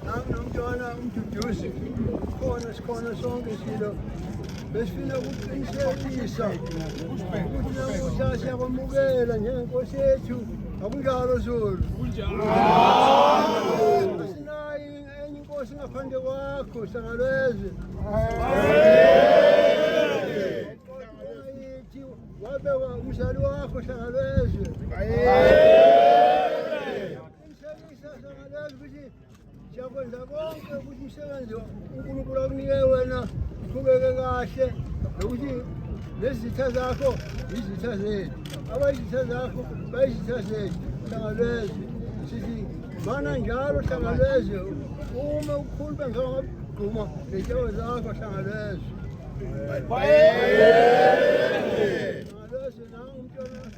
Nanginomntwana umduduzi khona sikhona sonke silo besifuna ukuqinisekisa ukuthi namuhla siyakwamukela njengenkosi yethu akunjalo zulu asinayi enye inkosi ngaphandle kwakho sangalwezwe yithi wabekwa umzali wakho sangalwezwe Siyakwenza konke ukuthi umsebenzi uNkulunkulu akunike wena uqhubeke kahle nokuthi nezitha zakho yizitha zethu abayizitha zakho bayizitha zethu hlangalwezwe sithi mana njalo hlangalwezwe uma ukhuluma ngabagquma ngehloko zakho hlangalwezwe hlangalwezwe nangu umntwana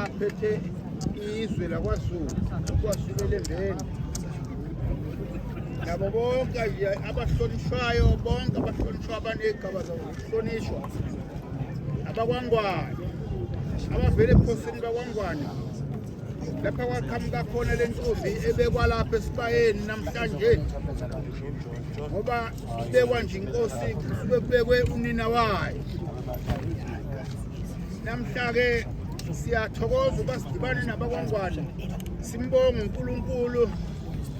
aphethe izwe lakwazulu kwazulu elembeni nabo bonke abahlonishwayo bonke abahlonishwa abanegaba zabo zokuhlonishwa abakwangwane abavele ebukhosini bakwangwane lapha kwaqhamuka khona le ntombi ebekwalapha esibayeni namhlanje ngoba kubekwa nje inkosi kusuke kubekwe unina wayo namhla-ke siyathokoza uba sidibane nabakwangwane simbonge unkulunkulu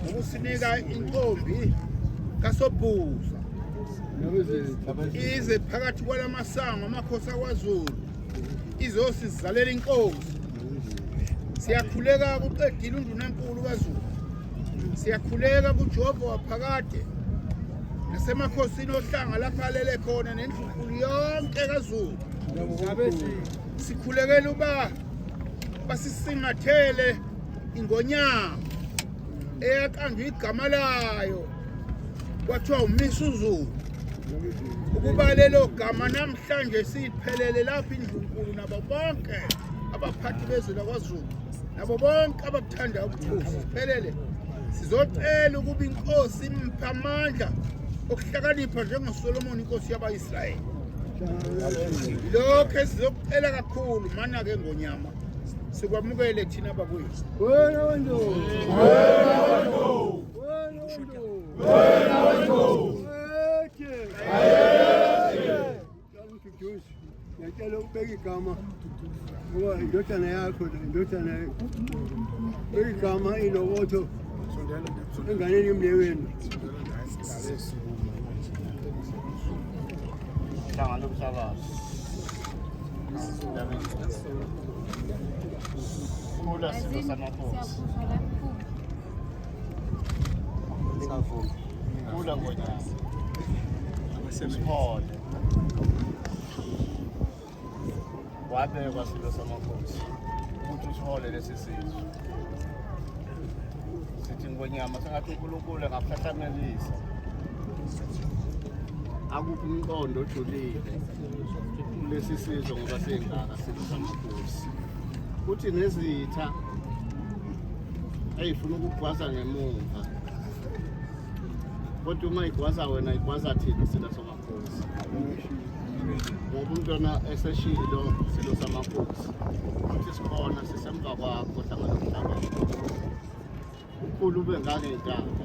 ngokusinika intombi kasobhuza ize phakathi kwala masango amakhosi akwazulu izosizalela inkosi siyakhuleka kuqedile undunankulu kazulu Siyakhuleka kuJehova waphakade nasemakhosini ohlanga lapha alele khona nendlunkulu yonke kaZulu. Sikhulekela uba basisingathele ingonyama eyaqanjwa igama layo kwathiwa umisa uzulu ukuba lelo gama namhlanje siphelele lapha indlunkulu nabo bonke abaphathi bezwe lakwazulu nabo bonke Thanda ubukhosi siphelele. Sizocela ukuba inkosi imphe amandla okuhlakanipha njengoSolomoni inkosi yabaIsrayeli. Lokho esizokucela kakhulu mana ke ngonyama. Sikwamukele thina bakwethu. Wena wendo. Wena wendo. Wena wendo. Wena wendo. Ngiyacela ukubeka igama ngoba indodana yakho indodana beka igama ilokotho enganeni emnewenu hlangana umhlabazi khula silo samakhosi Kula ngonyaka. Abasemphole. Wabekwa silo samakhosi. Ukuthi uthole lesi sizwe. Sithi ngonyama sengathi uNkulunkulu angaphahlanganisa. Akuphi umqondo ojulile kulesi sizwe ngoba sengaka silo samakhosi. Kuthi nezitha Eyi funa ukugwaza ngemumva. Kodwa uma igwaza wena igwaza thina sina somakhosi. Ngoba umntwana eseshilo silo samakhosi. Futhi sikhona sisemva kwakho hlangana mhlaba. Ukhulu ube ngangentanga.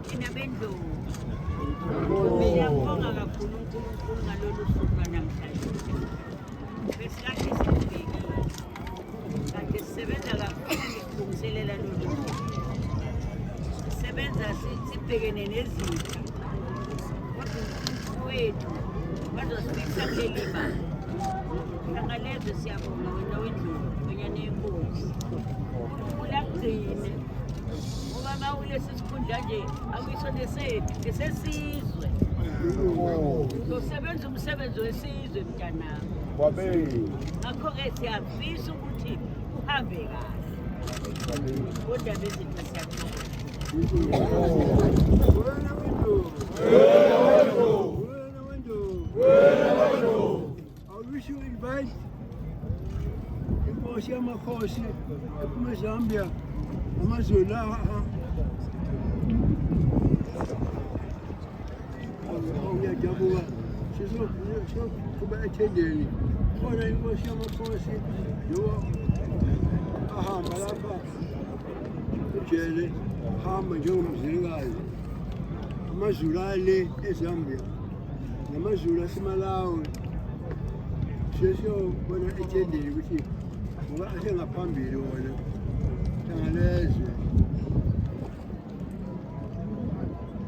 Thina bendlovu siyambonga kakhulu uNkulunkulu ngalolu suku lwanamhlanje. Besikade sikubhekile kanti sisebenza kakhulu ukulungiselela lolu suku. Sisebenza si- sibhekene nezitha kodwa uNkulunkulu wethu bazosifikisa kuleli banga. Ntangalezwe siyabonga wena wendlovu kwenyana yenkosi. uNkulunkulu akugcine ngoba mawulesi Kunjanje akuyiso nesethu nesesizwe. Uzosebenza umsebenzi wesizwe mntanami. Kwabeyi. Ngakho-ke siyafisa ukuthi uhambe kahle. Kodwa bezinto siyathola. Wena wena. Wena wena. inkosi yamakhosi ephuma ezambia amazweni lawa uyajabuka sizoqhuba ethendeni khona inkosi yamakhosi yiwo ahamba lapha ujele hamba njengomzilikazi amazulu ale ezambia namazulu asemalawi sesiyobona ethendeni ukuthi ngoba asengaphambili wona hlangalezwe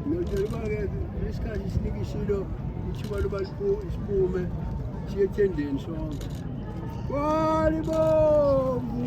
notshela uba-ke lesikhathi sinika isilo ithuba loba siphume siye ethendeni sonke kwalibomvu